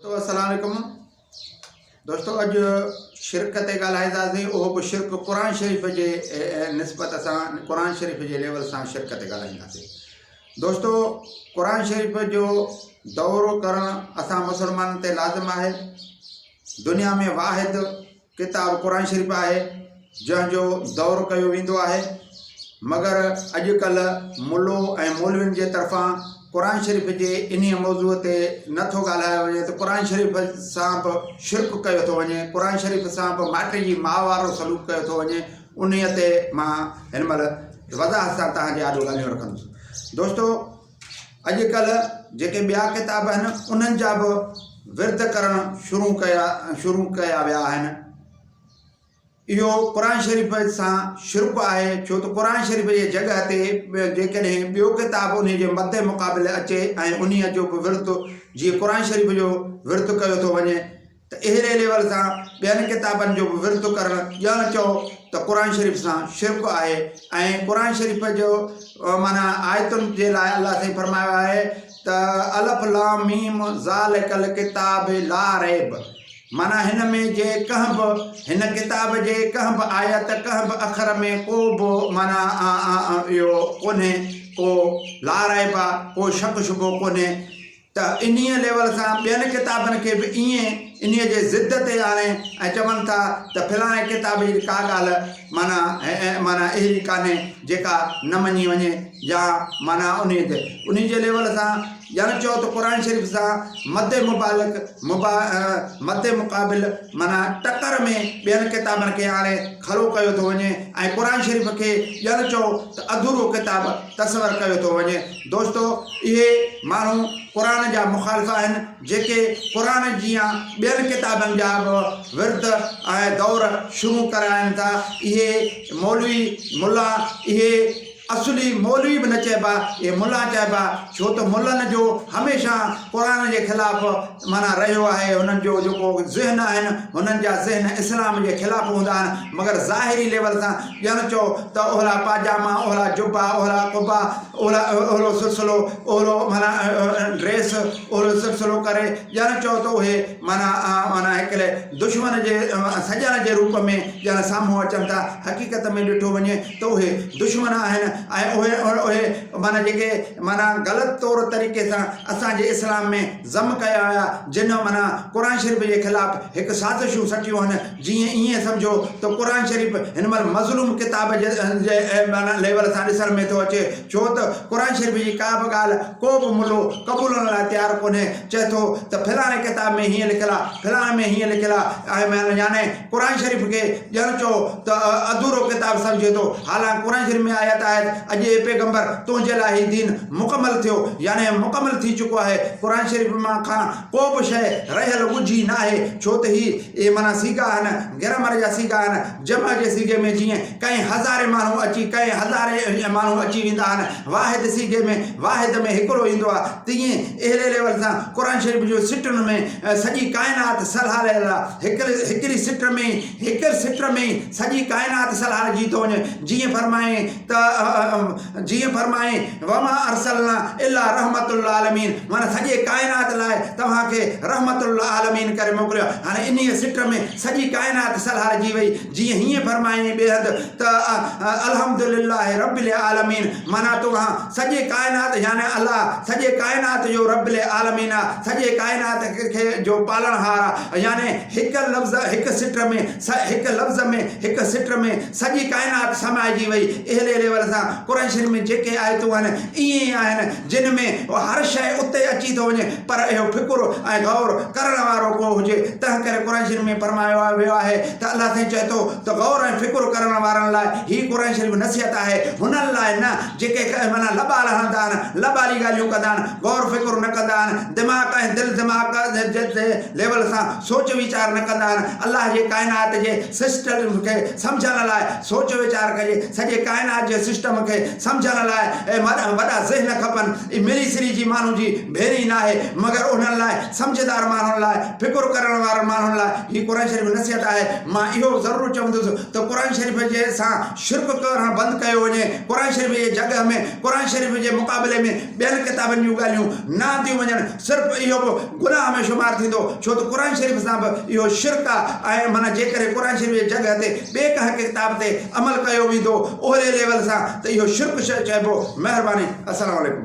تو السلام عليڪم دوستو اڄ شرڪ تي ڳالهائينداسين اهو به شرڪ قرآن شريف جي نسبت سان قرآن شريف جي ليول سان شرڪ تي ڳالهائينداسين دوستو قرآن شريف جو دورو ڪرڻ اسان مسلمانن تي لازم آهي دنيا ۾ واحد ڪتاب قرآن شريف آهي جنهن جو دور ڪيو ويندو آهي مگر اڄڪلهه ملو ۽ مولوين جي طرفان قرآن شريف جي انهي موضوع تي نه ٿو ڳالهايو وڃي ته قرآن شريف سان به شرڪ ڪيو ٿو وڃي قرآن شريف سان به مائٽن جي ماء وارو سلوڪ ڪيو ٿو وڃي انهي تي مان هن مهل وضاحت سان توهان جي آڏو ڳالهيون رکندس دوستو اڄ ڪلهه جيڪي ٻيا ڪتاب آهن انهن جا به ورد ڪرڻ شروع ڪيا شروع ڪيا ويا آهن اهو قرآن شريف سان شرپ آهي ڇو ته قرآن شريف جي جڳھ تي جيڪڏهن ٻيو ڪتاب ان جي مد مقابل اچي ۽ انهيء جو به ورد جيئن قرآن شريف جو ورد ڪيو ٿو وڃي ته اهڙي ليول سان ٻين ڪتابن جو به ورد ڪرڻ ڄڻ چئو ته قرآن شريف سان شرڪ آهي ۽ قرآن شريف جو معنيٰ آيتن جي لاء الله سائين فرمايو آهي ته الف لام ميم ذالک الڪتاب لا ريب معنيٰ هن ۾ جي ڪنهن به هن ڪتاب جي ڪنهن به آيت ڪنهن به اکر ۾ ڪو به معنيٰ اهو ڪونهي ڪو لا ريب ڪو شڪ شبو ڪونهي ته انهيء ليول سان ٻين ڪتابن کي به ائين انهيء جي ضد تي آڻي ۽ چون ٿا ته فلاڻي ڪتاب جي ته ڪا ڳالهه معنيٰ معنيٰ اهڙي ڪانهي جيڪا نه مڃي وڃي يا معنيٰ انهيء تي انهيء جي ليول سان ڄڻ چئو ته قرآن شريف سان مد مبالغ مبا مد مقابل معنيٰ ٽڪر ۾ ٻين ڪتابن کي آڻي کڙو ڪيو ٿو وڃي ۽ قرآن شريف کي ڄڻ چئو ته اڌورو ڪتاب تصور ڪيو ٿو وڃي دوستو اهي ماڻهو قرآن جا مخالف آهن جيڪي قرآن جيان ٻين ڪتابن جا به ورد ۽ دور شروع ڪرائين ٿا اهي مولوي ملا اهي اصلي مولوي به نه چئبا اهي ملا چئبا ڇو ته ملن جو هميشه قرآن جي خلاف معنيٰ رهيو آهي هنن جو جيڪو ذهن آهن هنن جا ذهن اسلام جي خلاف هوندا آهن مگر ظاهري ليول سان ڄڻ چئو ته اهلا پاجاما اهلا جبا اهلا قبا اهلا اهلو سلسلو اهلو معنيٰ ڊريس اهلو سلسلو ڪري ڄڻ چئو ته اهي معنيٰ معنيٰ هڪڙي دشمن جي سڄڻ جي روپ ۾ ڄڻ سامهون اچن ٿا حقيقت ۾ ڏٺو وڃي ته اهي دشمن آهن ۽ اهي اهي معنيٰ جيڪي معنيٰ غلط طور طريقي سان اسان جي اسلام ۾ ضم ڪيا ويا جن امرا قرآن شريف جي خلاف هڪ سازشون سٽيون هن جي ائين سمجهو ته قرآن شريف هن مهل مظلوم ڪتاب جي ليول سان ڏسڻ ۾ ٿو اچي ڇو ته قرآن شريف جي ڪا به ڳالهه ڪو به ملو قبولڻ لاء تيار ڪونهي چئي ٿو ته فلاڻي ڪتاب ۾ هيئن لکيل آهي فلاڻي ۾ هيئن لکيل آهي ۽ يعني قرآن شريف کي ڄڻ چئو ته اڌورو ڪتاب سمجهي ٿو، حالانڪ قرآن شريف ۾ آيت آهي ته اڄ اي پيغمبر تنهنجي لاء هي دين مڪمل ٿيو يعني مڪمل ٿي چڪو آهي، قرآن شريف مان کان ڪو به شيء رهيل ڳجهي ناهي، ڇو ته هي اهي معنيٰ صيغا آهن، گرامر جا صيغا آهن، جمع جي صيغي ۾ جيئن ڪئين هزارين ماڻهو اچي ڪئين هزارين ماڻهو اچي ويندا آهن، واحد صيغي ۾ واحد ۾ هڪڙو ايندو آ تيئن اهڙي ليول سان قرآن شريف جون سٽن ۾ سڄي ڪائنات سلهاريل آ هڪڙي سٽ ۾ ئي هڪڙي سٽ ۾ ئي سڄي ڪائنات سلهارجي ٿو وڃي جيئن فرمائين ته جيئن فرمائين وما ارسلنا الا رحمت للعالمين معنيٰ سڄي ڪائنات لاء توهان کي رحمت للعالمين ڪري موڪليو آ هاڻي انهيء سٽ ۾ سڄي ڪائنات سلهارجي وئي جيئن هيئن فرمائين بيحد ته الحمد لله رب العالمين معنيٰ توهان سڄي ڪائنات يعني الله سڄي ڪائنات جو رب العالمين آ سڄي ڪائنات کي جو پالڻهار آ يعني هڪ لفظ هڪ سٽ ۾ هڪ لفظ ۾ هڪ سٽ ۾ سڄي ڪائنات سمائجي وئي اهلي ليول سان قريشين ۾ جيڪي آيتون آهن ائين ئي آهن جنھن ۾ ھر شيء اتي اچي ٿو وڃي پر اھو فڪر ۽ غور ڪرڻ وارو ڪو ھجي تنھن ڪري قرآن شريف ۾ فرمايو ويو آھي ته الله سائين چئي ٿو ته غور ۽ فڪر ڪرڻ وارن لاء ھي قرآن شريف نصيحت آھي ھنن لاء نه جيڪي معنيٰ لٻا لھڻدا آھن لٻالي ڳالھيون ڪندا آھن غور فڪر نه ڪندا آھن دماغ ۽ دل دماغ جي ليول سان سوچ ويچار نه ڪندا آھن الله جي ڪائنات جي سسٽم کي سمجهڻ لاء سوچ ويچار ڪجي، سڄي ڪائنات جي سسٽم کي سمجهڻ لاء وڏا ذهن کپن، اي مري سري جي ماڻهن جي ڀيري ناهي، مگر انهن لاء سمجهدار ماڻهن لاء فڪر ڪرڻ وارن ماڻهن لاء هي قرآن شريف نصيحت آهي، مان اهو ضرور چوندس ته قرآن شريف جي سان شرڪ ڪرڻ بند ڪيو وڃي، قرآن شريف جي جڳهه ۾ قرآن شريف جي مقابلي ۾ ٻين ڪتابن جون ڳالهيون نه آنديون وڃڻ صرف اهو به گناهه ۾ شمار ٿيندو ڇو ته قرآن شريف سان به اهو شرڪ آهي ۽ معنيٰ جيڪڏهن قرآن شريف جي جڳهه تي ٻي ڪنهن ڪتاب تي عمل ڪيو ويندو اهڙي ليول سان ته اهو شرڪ چئبو مهرباني السلام عليڪم.